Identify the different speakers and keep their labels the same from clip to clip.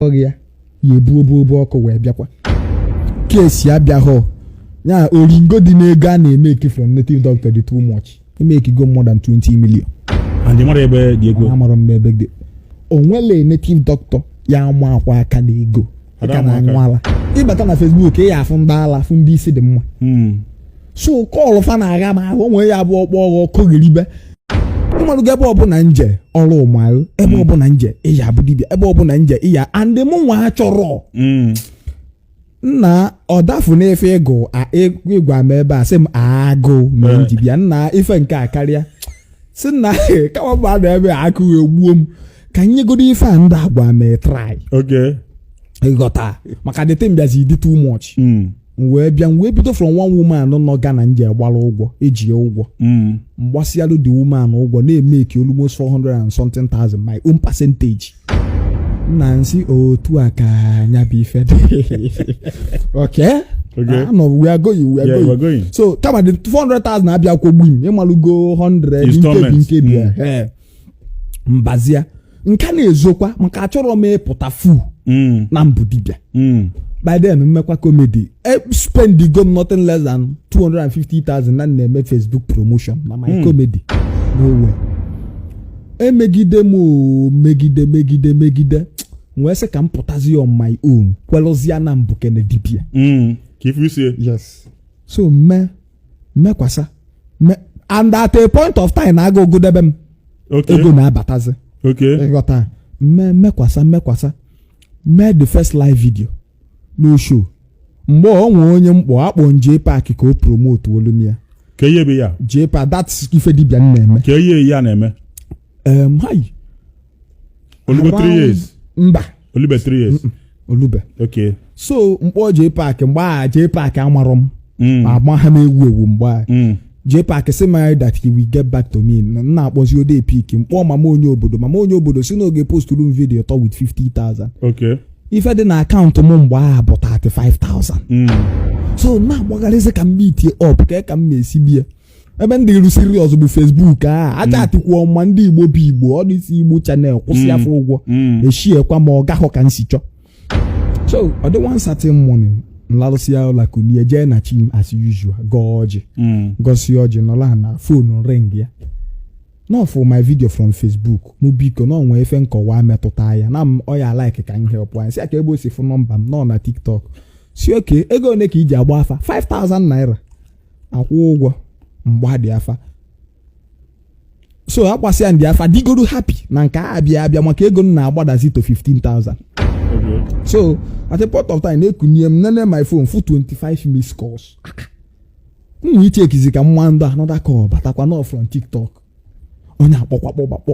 Speaker 1: akpọrọ gị ya ya ebu obu obu ọkụ wee bịakwa case abịaghọ ya oringo dị n'ego a na-emeki from native doctor dị too much emekigo more than 20 million and
Speaker 2: mara ebe dị ego amara m ebe
Speaker 1: dị o nwele native doctor ya amakwa aka na ego Ada ka ama na aka. anwala ịbata na facebook ị ya afụ ndị ala fụ ndị isi dị mma Hmm. so kọlụ fa na-agha m ahụ onwe ya bụ ọkpọ ọghọ ọkụ gheribe ịmarụgo ebe ọbụla nje ọrụ ụmarụ ebe ọbụla nje ịya abụ dibịa ebe ọbụla nje ịya and mụ nwa achọrọ Mm. nna ọdafu na-efe ịgụ a- ị- ịgwa m ebe a sị m agụ mere m ji bịa nna ife nke a karịa si nna kama bụ anọ ebe a agụụ egbuo m ka m nyegodo ife a ndị agwa m a try Okay. ịghọta maka the thing bịazi dị too much Mm. m wee bịa m wee bido from one woman nọ Ghana nje gbara ụgwọ e ji ya ụgwọ Mm. m gbasịalụ the woman ụgwọ na-emeki almost 400 and something thousand my own percentage nna nsị otu a ka nya bụ ife dị okay Okay. Ah, no, we are going we are Yeah, going we're going. so kama the 400,000 abịa kwụọ gbum ịmalụgo 100 nkebi Installments. nkebi Mm. eh. mbazia nka na-ezokwa maka achọrọ m ịpụta fu mm. na m bụ dibịa mm. by then mmekwa comedy e, spendigo m nothing less than 250,000 na na-eme Facebook promotion na my mm. comedy no way emegide m megide megide megide wee sị ka m pụtazi on my own kwelụzia na m bụ kene dibia
Speaker 2: yes so
Speaker 1: mee mekwasa me- and at a point of time na-aga ogudebe m okay ego na-abatazi okay ịghọta mme mekwasa mekwasa mee the first live video no show mgbe o nwee onye mkpọ akpọ Jpac ka o promotuolu m ya ka ihe be ya
Speaker 2: Jpac that's ife
Speaker 1: dibia na-eme ka ihe ya na-eme
Speaker 2: em hai o lugo three around- years. mba o
Speaker 1: lube three
Speaker 2: years. o lube
Speaker 1: Okay.
Speaker 2: so
Speaker 1: mkpọ Jpac mgbe a Jpac amarọ m Mm. ma agba ha na-ewu ewu mgbe a Mm. Jpac sị m that he will get back to me na m na-akpọzi ọ da epick mkpọ mama onye obodo mama onye obodo sị na ọ ga-eposturu m video atọ with 50,000 Okay. ife
Speaker 2: dị na
Speaker 1: akaụntụ m mgbe a bụ 35,000 Mm. so m na-agbagharịzi ka m meetie up ka ka m na-esi bie ebe ndịrụ serious bụ Facebook achatịkwuo m ma ndị Igbo bụ Igbo all these Igbo channel kwụsịa Mm. fa ụgwọ Mm. echiekwa m ọ gahọ ka nsi chọ so ọ dị one certain morning nlarụsịa ụla kulie jee na chi m as usual gọọ ọjị Mm. gọsịa ọjị nọla na phone ringịa na ọ fụ my video from facebook mụ biko na o nwe ife nkọwa metụta ya na m ọ ya like ka m help nya sị ya kee ebe o si fụ nọmba m na ọ na tiktok sị okay ego ole ka i ji agba afa 5000 naira akwụ ụgwọ mgbadị afa so agbasịa ndị afa digoro happy na nke a abịa abịa maka ego m na-agbadazi to 15000 so at a point of time na ekunie m nene my phone fụ 25 missed calls m nwee ichekizi ka m ma ndị ọ another call batakwa n'ọ from tiktok onye akpọkwakpọgbakpọ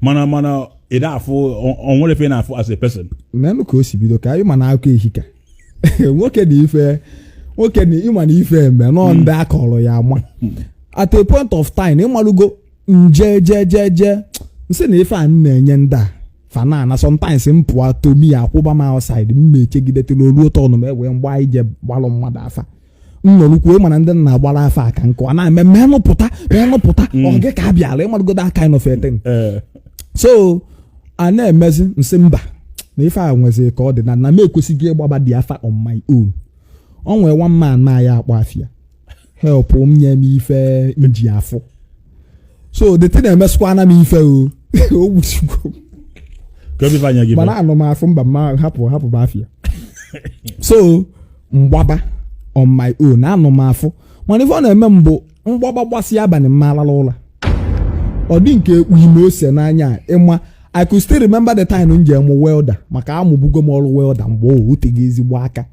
Speaker 1: mana
Speaker 2: mana ị na-afụ o nwere ife na-afụ as a person menụ ka o si
Speaker 1: bido ka anyị ma na akụkọ ehika nwoke na ife nwoke na ịma na ife eme nọ hmm. ndị akọrọ ya ama hmm. at a point of time ịmalụgo nje je je je nsị na ife a na-enye ndị a fanana sometimes m pụọ tomi akwụba m outside m mechegidetela olu ụtọ ọnụma ewee m gba ije gbalụ mmadụ afa m nọrọkwu ịma na ndị m na-agbara afa aka nkụ a na-eme m enupụta m enupụta ọ gị ka a bịara ịmalụgo that kind of a thing ee so a na-emezi nsị mba na ife a nwezi ka ọ dị na na m ekwesịghị ịgbabadị afa on my own o nwee one man m na ya akpa afịa help m nye m ife nji afụ so the thing emesịkwana m ife o o gbuchikwo Ka obi fanya gị mana mee. anọ m afụ mba mma hapụ hapụ bụ afịa so mgbaba on my own anọ m afụ mana ife ọ na-eme m bụ mgbaba gbasịa abalị m ma-alala ụla ọ dị m ka ekpuyi m ose n'anya a, ịma i could still remember the time m ji amụ welder maka amụbugo m ọrụ welder mgbe o oteghị ezigbo aka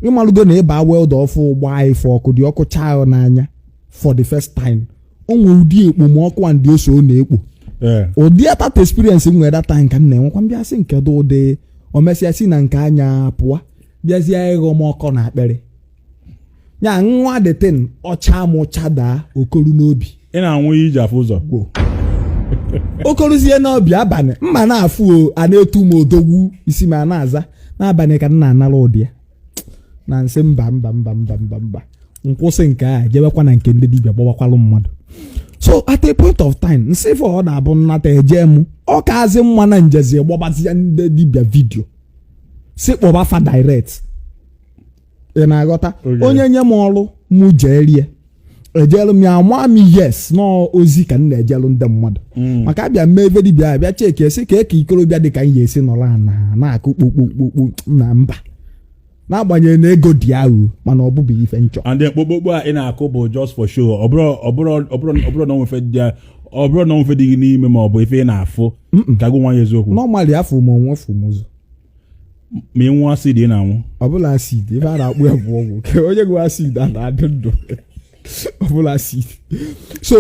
Speaker 1: ịmalụgo na ịba welder ọfụụ gbaa ife ọkụ the ọkụ chaa ya n'anya for the first time o nwere ụdị ekpomọkụ and ose ọ na-ekpo ee ụdị that experience m nwere that time ka m na-enwekwa mbịa sị nke dị ụdị o mesịa si na nke anya pụọ bịazie ịkọ m ọkọ n'akpịrị ya nwa the thing ọcha m ụcha daa okoru n'obi ị na-anwụ ihe iji
Speaker 2: afụ ụzọ okoruzie
Speaker 1: n'obi abalị mma na-afụ o, a na-etu m odogwu isi m ana-aza n'abalị ka m na-anara ụdị ya na nsị mba mba mba mba mba mba nkwụsị nke a jebekwa na nke ndị dibịa gbawakwalụ mmadụ so at a point of time nsị if ọ na-abụ nnata eje mụ ọ kaazị mma na njezi gbabazie ndị dibịa video sị kpọba fa direct ị na-aghọta Okay. onye nye m ọrụ mụ jeere ya ejelu m ya nwa m yes nọọ ozi ka m na-ejelu ndị mmadụ mm. maka abịa m ebe dibịa abịa checkie sị kee ka ikorobịa dị ka m ga-esi nọrọ na na-akụ kpokpokpokpo na mba n'agbanyeghị na ego dị ahụ mana ọ bụbeghị ife nchọ and then kpokpokpo a ị
Speaker 2: na-akụ bụ just for show ọ bụrụ na o nwe ife dị ọ bụrụ na o nwe ife dị gị n'ime ma ọ bụ ife ị na-afụ ka gị nwa ya eziokwu normally afụ m onwe
Speaker 1: fụ m ụzọ
Speaker 2: ma ị nwụọ acid ị na-anwụ ọ bụlụ acid
Speaker 1: ife a na-akpọ ya bụ ọgwụ ka onye ṅụ acid a na-adị ndụ ọ bụrọ acid so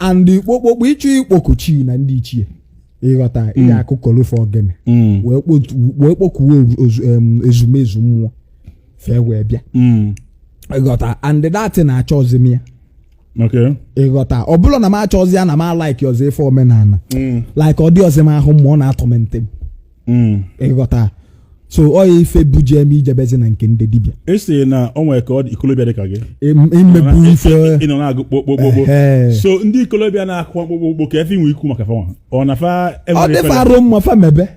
Speaker 1: and kpokpokpo ịchụ ikpoku chi na ndị ichie ịghọta ị mm. ga-akụkolu fa ogene mm. wee kpokuo ezumezu mmụọ fa ewee bịa mm. ịghọta and that na achọrọzi m ya Okay. ịghọta ọ bụrọ na m achọrọzi ya na m alaikirọzi ife omenala Mm. like ọ dịrọzi m ahụ mma ọ na-atorment m Mm. ịghọta so ọ ya ife buje m ijebezi na nke ndị dibịa ị sị na o nwere ka
Speaker 2: ọ dị ikolobịa dị ka gị Im- ị mebu
Speaker 1: ife ị nọ na-akụ
Speaker 2: kpokpokpokpo Ehe. so ndị ikolobịa na-akụ kpokpokpo kee ife i nwe ikwu maka fanwa ọ na fa ọ enwere dị fa arụ
Speaker 1: mma fa mebe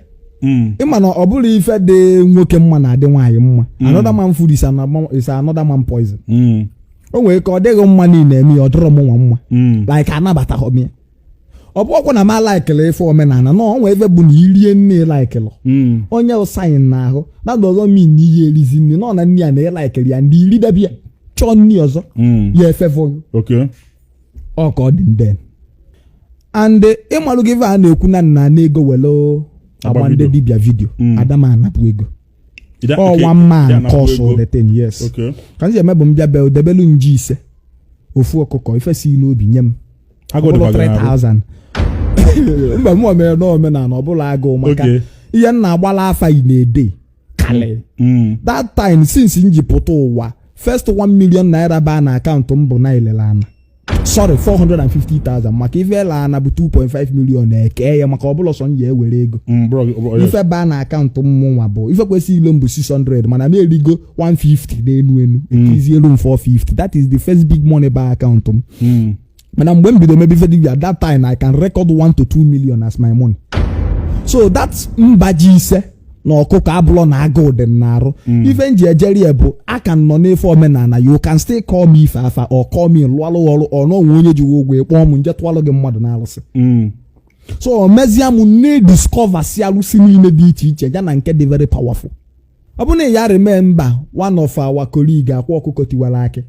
Speaker 1: Mm. ị ma na ọ bụrọ ife dị nwoke mma na-adị nwaanyị mma another man food is another- is another man poison Mm. o nwere ike ọ dị gị mma na ị na-eme ya ọ dịrọ mụnwa mma Mm. like anabataghị m ya ọ bụrọkwa na m alaikirọ ife omenala na ọ nwee ebe bụ na i rie nni ị laikili Mm. onye ụsaghị na ahụ na doesn't mean na ihe erizi nni nọ na nni ya na ị laikirọ ya ndị i rie debe ya chọọ nni ọzọ Mm. ya efefọghị Okay. ọ ka ọ dị ndị and ịmalụ gị ife a na-ekwu na nna na ego welo agba ndị Agbabido. dibia vidio Mm. ada m anapụ ego Ị da- ọ okay, one ị man da-anakwa consultation ego. yes Okay. ka m ji eme bụ m bịa bịa debelu m ji ise ofu ọkụkọ ife si gị n'obi nye m Agụụ Ọ bụrụ dịkwa gị n'arụ. 3000 mba mụ omere na omenala ọ bụrọ agụụ maka Okay. ihe m na-agbala afa yi na-ede kalị Mm. that time since m ji pụta ụwa first 1 million naira baa na akaụntụ m bụ na e lele ana sorry 450,000 maka ife e lele ana bụ 2.5 million e kee ya maka ọ bụrọ sọ m ya-ewere ego Mm, bro, bro, yes. ife baa na akaụntụ mụnwa bụ ife kwesịrị ilu m bụ 600 mana m erigo 150 n'enu enu e kezielu m 450 that is the first big money baa akaụntụ m Mm. mana mgbe m bido mebe ife dibia that time I can record 1 to 2 million as my money so that mba ji ise na ọkụkọ abụrọ na agụụ dị m n'arụ mm. ife m ji ejeri ya bụ ka m nọ n'ife omenala you can still call me ife afa or call me lụọlụ ọrụ or o nwe onye ji gị ụgwọ ị kpọọ m m jee tụọlụ gị mmadụ n'alụsị mm. so o mezie m na-ediscoversi alụsị niile dị iche iche ya na nke dị very powerful ọ bụ na ị ya-eremember one of our colleague akwa ọkụkọ tiwara akị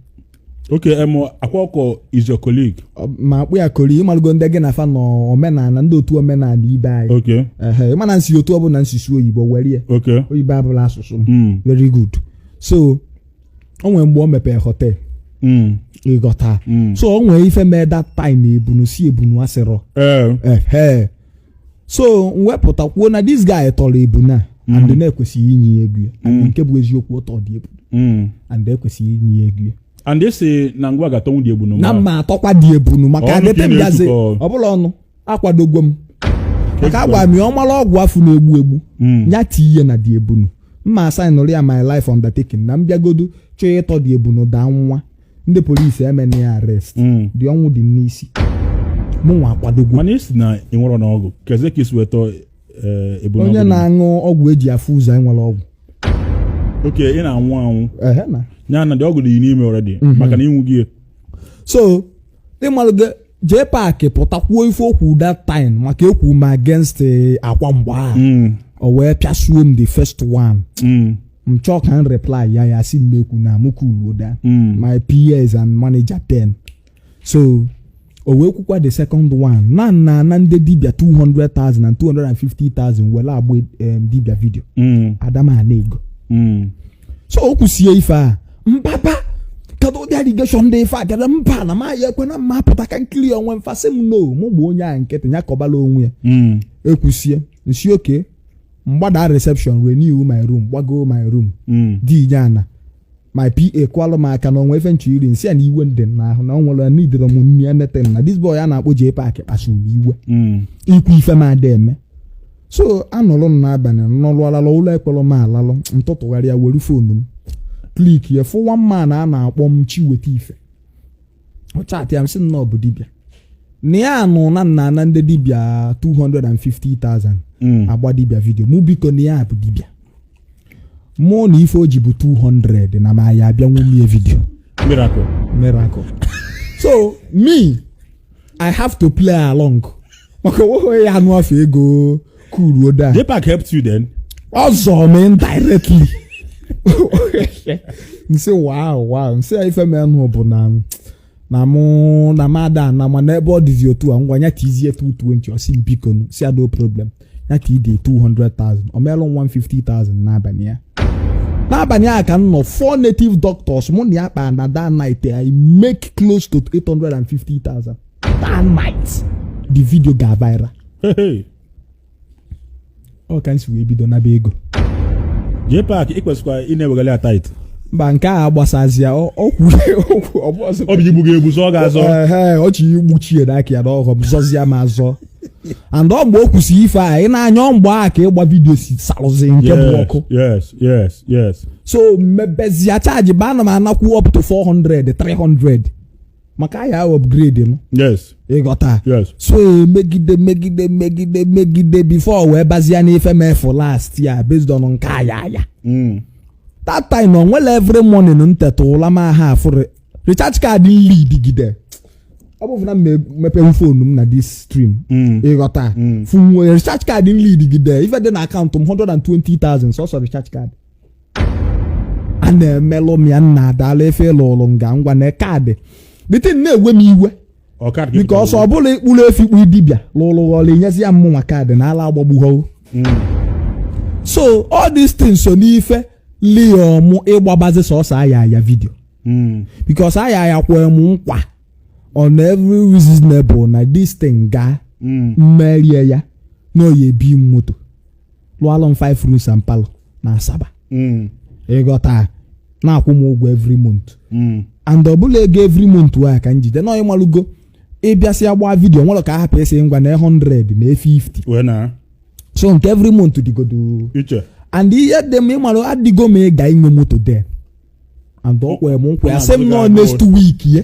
Speaker 1: oke
Speaker 2: em akwa ọkụkọ is your colleague Ọ- m akpọ ya
Speaker 1: colleague ị malụgo ndị gị na fa nọ omenala ndị otu omenala ibe anyị oke ehe ị ma na m si otu ọ bụla m si sụọ oyibo were ya oke oyibo abụrọ asụsụ m mm very good so o nwere mgbe o mepee hotel mm ịghọta mm so o nwere ife mee that time ebunu si ebunu asịrọ eh ehe so m wepụta kwuo na this guy tọrọ ebunu a and Mm. na-ekwesịghị inye ya ego ya Mm. nke bụ eziokwu ọ tọọ the ebunu Mm. and ekwesịghị inye ya ego ya and they say na
Speaker 2: ngwa ga-atọnwu the ebunu na mụwa mma atọkwa the
Speaker 1: ebunu maka Ọnụ ka ị adete m gazi na-etukọ. ọbụla ọnụ akwadogo m maka agwa m ya ọ mara ọgwụ afụ na-egbu egbu Mm. ya tinye na the ebunu mma asainụrụ ya my life undertaking na m bịagodu chọọ ịtọ the ebunu daa nwụa ndị polisi emena ya arrest hmm. the ọnwụ dị n'isi mụnwa akwadogo mana ị sị na ị nwerọ
Speaker 2: ọgwụ kezi ka i si weta eh, ebe onye na-aṅụ
Speaker 1: ọgwụ eji afụ ụzọ e nwere ọgwụ
Speaker 2: okay ị na-aṅụ aṅụ ya na the ọgwụ dị n'ime already mhm. maka na ị ṅụ gị so
Speaker 1: ị malụgo J Park pụta kwuo ife okwu that time maka ekwu m against eh, Akwa mgbe ahụ Mm, o wee pịasuo m the first one mm, m chọọ ka m reply ya ya sị m ekwuna mụ kuluo down mm. my PAs and manager then so o wee kwukwa the second one na n na-ana ndị dibia 200,000 and 250,000 were agba em, dibia vidio Mm, ada m ana ego mm. so o kwusie ife a mpapa kedu ụdị allegation dị ife a kedu mba na ma ya ekwe na mma apụta ka n clear onwe m fa sị m no mụ gba onye a nkịtị ya kọbala onwe ya Mm. ekwusie n sị okay m gbada reception renew my room gbagoo my room Mm. dinye ana my PA kwalụ m aka na o nwe ife n chọ iri n sị ya na iwe dị m n'ahụ na ọ nwere na idere m nri anything na this boy a na-akpọ J Park kpasuru m iwe Mm. ikwu ife m ada eme so anọlụ m n'abalị nọlụ alalụ ụla ekwerọ m alalụ n tụtụgharịa were phone m click ya fụ one man a na-akpọ m Chiweta Ife ọ chatịa m sị na ọ bụ dibịa na ya anụ na n na-ana ndị dibịa 250,000 Mm. agba dibịa vidio mụ biko na ya bụ dibịa mụ na ife o ji bụ 200 na ma ya abịanwu mie vidio miracle miracle so me I have to play along maka onweghị ya anụ afa ego kuluo down J Park helped you
Speaker 2: then. ọ zọọ
Speaker 1: m indirectly n sị wow wow n sị ya ife menụ bụ na na mụ na m ada ana mana ebe ọ dịzi otu a ngwa ya tiizie 220 ọ sị m bikonụ, sị ya no problem ya ka ide 200,000 ọ meelụ m 150,000 n'abalị ya n'abalị a ka m nọ four native doctors mụ na ya kpaa na that night I make close to 850,000 that night the video ga viral ọ ka n si wee bido naba ego J
Speaker 2: Park ị kwesịkwa ị na-ewegara ya tithe mba nke a
Speaker 1: gbasazia okwu okwu ọbọzọ ọ
Speaker 2: bụ igbu gị egbu zọọ gị azọ ọ ji
Speaker 1: igbuchi ya n'aka ya n'ọghọm zọzie m azọ and ọ mgbe o kwusi ife a ị na-anya ọ mgbe a ka ịgba vidio si salụzi nke bụ ọkụ yes yes yes
Speaker 2: so
Speaker 1: m mebezie chajiba ana m anakwu up to 400 300 maka ya upgrade m yes
Speaker 2: ịghọta
Speaker 1: yes
Speaker 2: so
Speaker 1: megide megide megide megide before wee bazia n'ife mefu last year based on nke aya aya mm. that time na onwere every morning m teta ụla ma ha afụrụ recharge card m load gide ọ bụ na mepewu phone m na this thing mm. ịghọta mm. funwe recharge card m load gide ife dị na account m 120,000 sọsọ recharge card a na-emelụ m ya nna adala efe lụrụ m ga ngwa na card the thing na-ewe m iwe because ọ bụla ịkpụrụ efi kpụ dibịa lụrụ gị ọrụ i nyezia mmụnwa card na ala agbagbughọwo so all these things so n'ife liom ịgbabazi sọsọ aya aya video because aya aya kwee m nkwa on every reasonable na this thing gaa m merie ya na oyi ebi m moto lụọlụ m five rooms and parlour na asaba Mm. ịghọta na-akwụ m ụgwọ every month Mm. and ọbụla ego every month wa ka njide na ịmalụgo ị bịasịa gbaa video nwere ka a hapụ esi ngwa na 100 na 50 wee na
Speaker 2: so nke
Speaker 1: every month dịgodo iche
Speaker 2: and ihe
Speaker 1: dị m ịmalụ adịgo m eager inwe moto then and ọ kwere m nkwa ya sị m na next week ye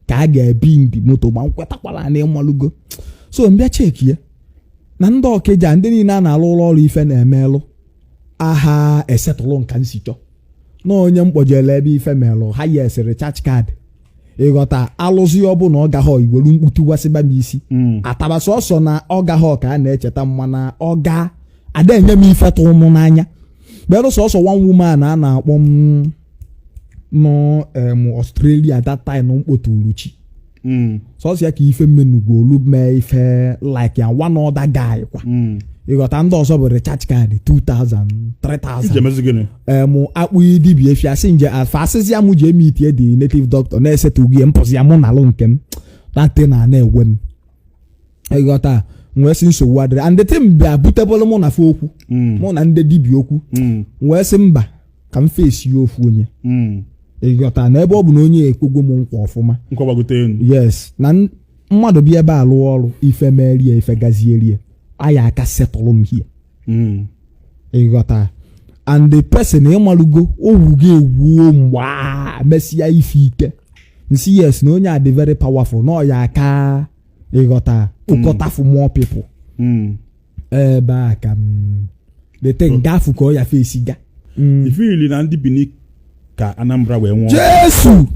Speaker 1: ka a ga-ebi ndị moto ma m kwetakwala na ịmalụgo so m bịa check ya na ndị ọkịja ndị niile a na-alụlụ ọrụ ife na-emelụ aha esetụlụ m ka m si chọ na onye m kpọjele ebe ife melụ ha yes recharge card ịghọta a lụzia ọ bụ na ọ gaghọ iwelu mkputu wasịba m isi Mm. ataba sọsọ na ọ gaghọ ka a na-echeta m mana ọ ga a da-enye m ife tụ mụ n'anya bere sọsọ one woman a na-akpọ m nọ em Australia that time mkpoturu chi mm. sọsọ ya ka ife mmenugwu olu mee ife like ya one other guy kwa mm. ịghọta ndị ọzọ bụ recharge card 2000 3000 em akpụ dibia efi asị nje afa a sịzia mụ ji eme itie dị native doctor na-esetụghị m pụzia mụ na-alụ nke m that thing ana-ewe m ịghọta wee sị nsogbu adịrị and the thing bịa butebụlụ mụ na fa okwu Mm. mụ na ndị dibịa okwu Mm. wee sị mba ka m face ya ofu onye Mm. ịghọta na ebe ọ bụ na onye ekwegwo m nkwa ọfụma nkọgbagote enu yes na n- mmadụ bịa ebe a lụọ ọrụ ife merie ife gazierie a ya-aka setụlụ m hie Mm. ịghọta and the person ịmalụgo o wugo ewu o mgbe a mesịa ife ike nsi yes na onye a dị very powerful na ọ ya-aka ịghọta ụkọtafu more people Mm. ebe a ka the thing gafu ka ọ ya fesi ga ị feel na
Speaker 2: ndị bini ka anambra wee nwụọ jesu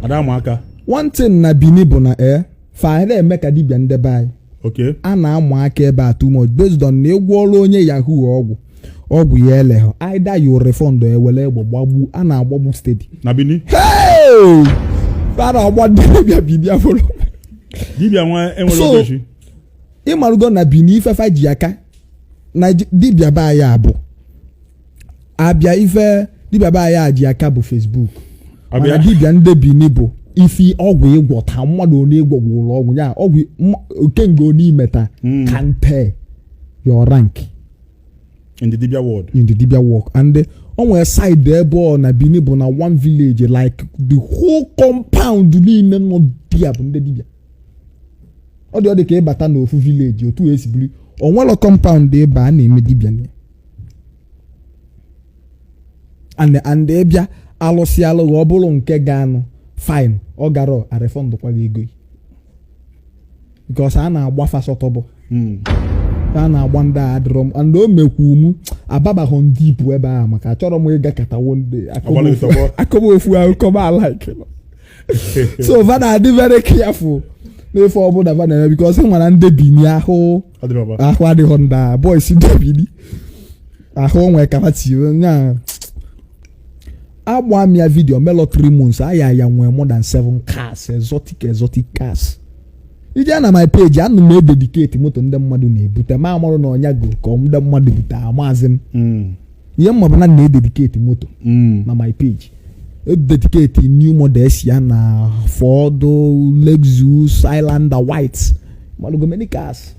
Speaker 2: ada ama aka one thing
Speaker 1: na bini bụ na e fa na-eme ka dibịa ndebe anyị okay a na-ama
Speaker 2: aka
Speaker 1: ebe a too much based on na ị gwọọrụ onye yahoo ọgwụ ọgwụ ya eleghọ either you refund ewere egbe gbagbu a na-agbagbu steady na
Speaker 2: bini
Speaker 1: Hey! a na-agba ndị dibịa bibia fọrọ dibia
Speaker 2: nwa enwere So- ogechi ịmarụgo
Speaker 1: na bini ife fa ji aka na ji- dibịa be anyị a bụ a bịa ife dibịa be anyị a ji aka bụ facebook mana a bịa dibịa ndị bini bụ isi ọgwụ ịgwọta mmadụ onye ịgwọgwụ ụlọ ọgwụ ya ọgwụ mma- okenga onye i meta Mm. kante
Speaker 2: your rank
Speaker 1: in the
Speaker 2: dibia world in
Speaker 1: the dibia
Speaker 2: work and
Speaker 1: eh, o nwere side ebe ọ na bini bụ na one village like the whole compound niile nọ there bụ ndị dibia ọ dị ọ dị ka ị bata n'ofu village otu e si biri o nwere compound ebe a na-eme dibia na ya and and ị bịa alụsị alụghị ọ bụrụ nke ga-anụ fine ọ gara arefọndụkwa gị ego gị because a na-agba fa sọtọbụ hmm. a na-agba ndị a adịrọ m and o mekwu m ababaghọ ndị ibu ebe a maka achọrọ m ịga katawo ndị akọba ofu akụkọba ala so va na-adị very careful n'ife ọbụla va na-eme because ị ma na ndị bini ahụ ahụ adịghọ ndị a boys ndị bini ahụ onwe kama tiwe nya agba m ya vidio melo 3 months aya ya nwee more than 7 cars exotic exotic cars ị jee na my page ana m edediketi moto ndị mmadụ na-ebute ma amarụ na ọnya go ka ndị mmadụ bute amazi m hmm. ihe m ma bụ na m na-edediketi moto hmm. na my page edediketi new models ya na Ford Lexus Highlander white mmadụ go many cars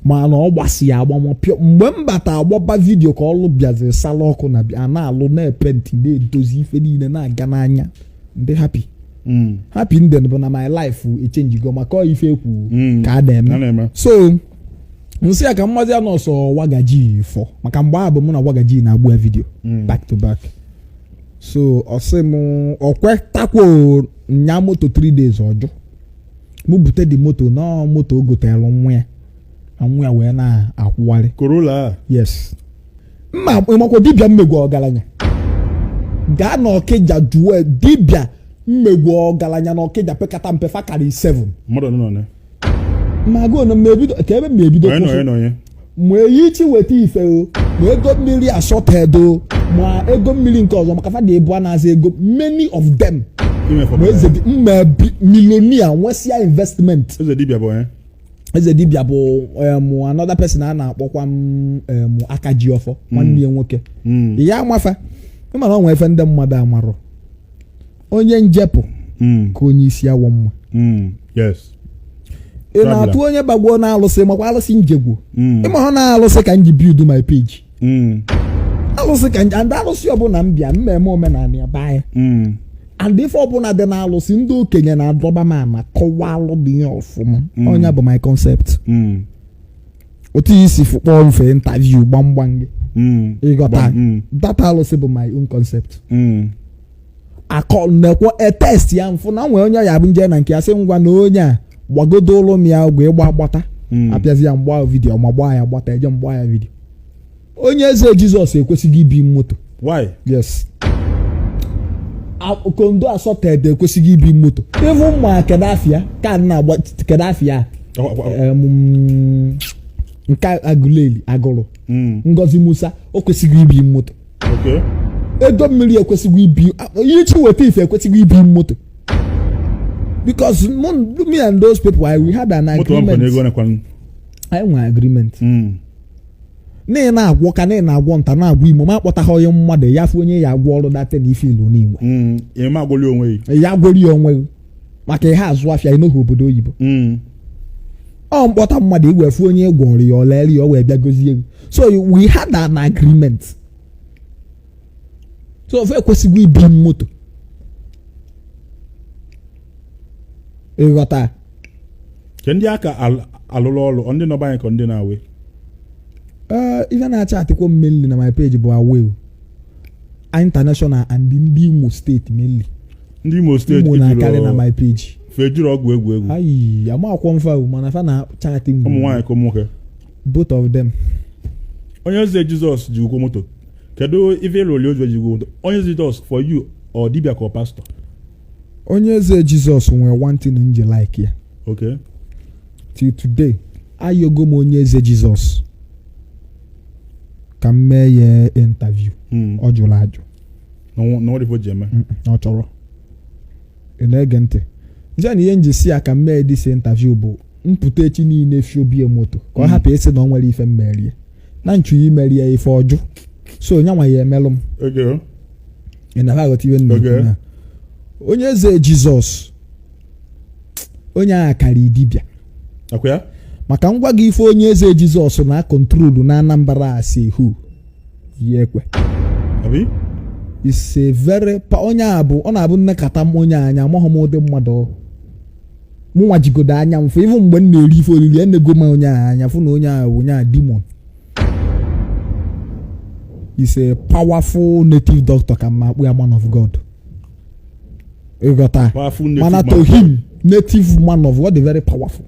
Speaker 1: mana ọ gbasi ya agbamọpịọ mgbe m bata agbaba vidiyo ka ọlụ bịaziri sala ọkụ na a na-alụ na-epenti na-edozi ife niile na-aga n'anya ndị happy hmm. happy ndị bụ na my life echenjigo maka ife ekwu hmm. ka a na-eme so m sị ya ka mmazi ya nọọsụ wagaji fọ maka mgbe ahụ bụ mụ na wagaji na-agba ya vidiyo hmm. back to back so ọ sị m o kwetakwo nya moto 3 days ọjụ mụ bute the moto na moto o goteelụ nwa ya na nwa ya wee na-akwọgharị Corolla a yes mma ị makwa dibịa mmegwu ọgaranya gaa na ọkịja jụọ ya, dibịa mmegwu ọgaranya na ọkịja pekata mpe fa karị 7 mmadụ nọ na
Speaker 2: ma
Speaker 1: gụọ na m ebido ka ebe m ebido onye na onye na onye ma eyi chi weta ife o ma ego mmiri assorted o ma ego mmiri nke ọzọ maka fa dị ịbụa na-aza ego many of them ma eze dị mma bi- millionaire nwesịa investment eze dibịa bụ onye eze dibia bụ em, another person a na-akpọkwa m em, aka ji ọfọ nwanne ya nwoke ya a ma fa ị ma na o nwee ife ndị mmadụ amarọ onye njepụ hmm. ka onye isi awọ
Speaker 2: mma
Speaker 1: hmm. ị na-atụ onye gbagbuo na alụsị makwa alụsị njegwu hmm. ị ma na alụsị ka m ji build my page alụsị ka m ji alụsị ọbụla m bịa mmemme omenala ya baa ya and ife ọbụla dị na alụsị ndị okenye na-adọba m ama kọwaa alụ dị ya ọfụma onye bụ my concept otu ihe isi kpọọ mfe interview gbamgbam gị ịghọta that alụsị bụ my own concept akọ nekwo etest ya m fụ na nwee onye ya bụ m je na nke ya sị ngwa na onye a gbagodo ụlụ m ya ọgwụ ịgba agbata Mm. apịazi ya m gbaa vidiyo ma gbaa ya gbata eje m gbaa ya vidiyo onye eze jizọs ekwesịghị ibi moto why yes A- kondo asọted ekwesịghị ibi moto even mma kedu afa ya ka adị na-agba kedu afa ya Ọ- ọ- ọ- em, mm, nke agụleli agụrụ Mm. ngozi musa o kwesịghị ibi moto
Speaker 2: ego
Speaker 1: mmiri ekwesịghị ibi ihe chi weta ife ekwesịghị ibi moto because me and those people I we had an agreement anyị nwere agreement hmm. na na-agwọ ka na na-agwọ nta na-agwọ imo ma akpọtaghị onye mmadụ ya fụ onye ya agwọọrọ that na ife ị lụ n'inwe hmm.
Speaker 2: ya agwọli onwe gị
Speaker 1: maka ihe azụ afịa ị nọghị obodo oyibo Mm. ọ m kpọta mmadụ i wee fụ onye gwọrọ ya o lere ya ọ wee bịa gozie gị so we had an agreement so ofe ekwesịghị ibi m moto ịghọta
Speaker 2: Ke ndị a ka al- alụrụ ọrụ ọ ndị nọ be anyị ka ndị nọ
Speaker 1: away ee ife na-achaatịkwọ m mainly na my page bụ away international and ndị imo steeti mainly ndị imo
Speaker 2: steeti imo na-akarị na my
Speaker 1: page fa ejirọ ọgwụ
Speaker 2: egwu egwu ayi amakwọ m
Speaker 1: fa mana fa na chaatị mgbe ụmụ nwaanyị ka ụmụ
Speaker 2: nwoke both of them
Speaker 1: onye
Speaker 2: eze jizọs ji ụkwụ moto kedu ife ị lụ oli ozu eji ụkwụ moto onye eze jizọs for you ọ dibịa ka ọ pastọ
Speaker 1: onye eze jizọs nwere one thing m ji like ya
Speaker 2: okay
Speaker 1: till today ayọgo m onye eze jizọs ka m mee ya interview hmm. ọ jụrụ ajụ
Speaker 2: n'ọdịfo ji eme na ọ
Speaker 1: chọrọ ị na-ege ntị nje na ihe m ji sị ya ka m mee this interview bụ m pụta echi niile fi obie moto ka ọ hapụ ịsị na ọ nwere ife m mere ya na m chọ ya imere ya ife ọjọ so onye nwa ya emelụ m
Speaker 2: okay ị
Speaker 1: na aghọta ihe m na Okay. ekwu na onye eze jizọs onye a ga-akarị dibịa akwa ya
Speaker 2: maka m
Speaker 1: gwa gị ife onye eze jizọs na kontrolu na anambra a si hu yi
Speaker 2: ekwe is
Speaker 1: a very pa onye a bụ ọ na-abụ nnekata m onye anya amaghị m ụdị mmadụ mụnwa jigodo anya m fụ even mgbe m na-eri ife oriri enego m onye ahụ anya fụ na onye ahụ bụ onye a the man is a powerful native doctor kama a kpọ ya man of god ịghọta mana to him native man of god is very powerful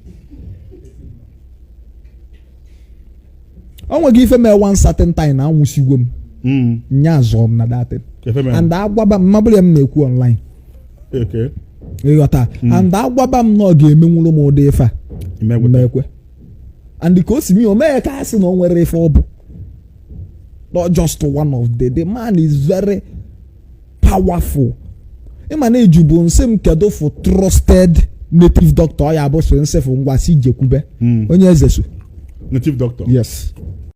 Speaker 1: o nweghị ife mee one certain time na anwụsigo m hmm. nya zọọ m na that thing and agwaba m ma bụrụ ya m na-ekwu online
Speaker 2: ịghọta
Speaker 1: hmm. and agwaba m na ọ ga-emenwuru m ụdị ife a m ma ekwe and ka o si mee o mee ka a sị na o nwere ife ọ bụ not just one of the the man is very powerful ịma na ị jụbu m sị m kedu fụ trusted native doctor ọ ya bụ so nsị fụ
Speaker 2: ngwa
Speaker 1: sị jekwube onye eze so
Speaker 2: native
Speaker 1: doctor yes